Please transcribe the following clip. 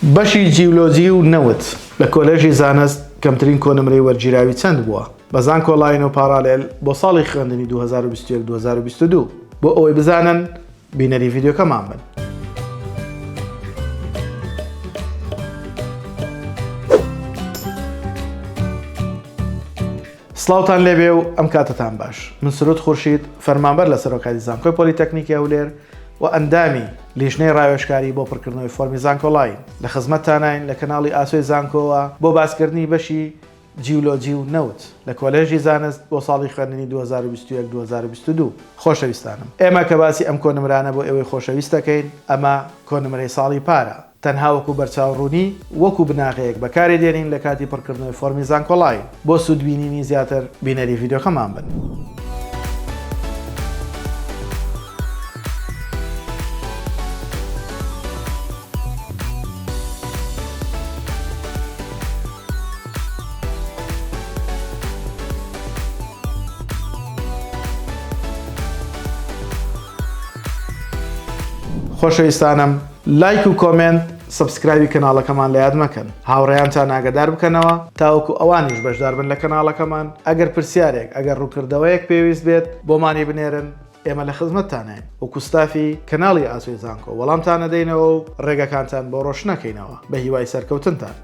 بەشی جیولۆجی و نەوت لە کۆلێژی زانست کەمترین کۆنمرەی وەرگیراوی چەند بووە؟ بە زانکۆ لاین و پاڕالێل بۆ ساڵی خوێندنی دوو هەزار و بیست و یەک دوو هەزار و بیست و دوو بۆ ئەوەی بزانن بینەری ڤیدیۆکەمان بن. سڵاوتان لێبێ و ئەم کاتەتان باش. من سرود خورشید، فەرمانبەر لە سەرۆکایەتی زانکۆی پۆلیتەکنیکی هەولێر و ئەندامی لیژنەی ڕاوێژکاری بۆ پڕکردنەوەی فۆرمی زانکۆڵاین، لە خزمەتتاناین لە کەناڵی ئاسۆی زانکۆوە بۆ باسکردنی بەشی جیولۆجی و نەوت لە کۆلێژی زانست بۆ ساڵی خوێندنی دوو هەزار و بیست و یەک دوو هەزار و بیست و دوو. خۆشەویستانم، ئێمە کە باسی ئەم کۆنمرانە بۆ ئێوەی خۆشەویست دەکەین، ئەمە کۆنمرەی ساڵی پارە. تەنها وەکو بەرچاوڕوونی وەکو بناغەیەک بەکاری دێنین لە کاتی پڕکردنەوەی فۆرمی زانکۆڵاین. بۆ سوود بینینی زیاتر بینەری ڤیدیۆکەمان بن. خۆشەویستانم. لایک و کۆمێنت سەبسکرایبی کەناڵەکەمان لە یاد مەکەن هاوڕێیانتان ئاگەدار بکەنەوە تاوەکو ئەوانیش بەشدار بن لە کەناڵەکەمان ئەگەر پرسیارێک ئەگەر ڕووکردەوەیەک پێویست بێت بۆمانی بنێرن ئێمە لە خزمەتتانین وەکو ستافی کەناڵی ئاسۆی زانکۆ وەڵامتان ئەدەینەوە و ڕێگەکانتان بۆ ڕۆشنەکەینەوە بە هیوای سەرکەوتنتان.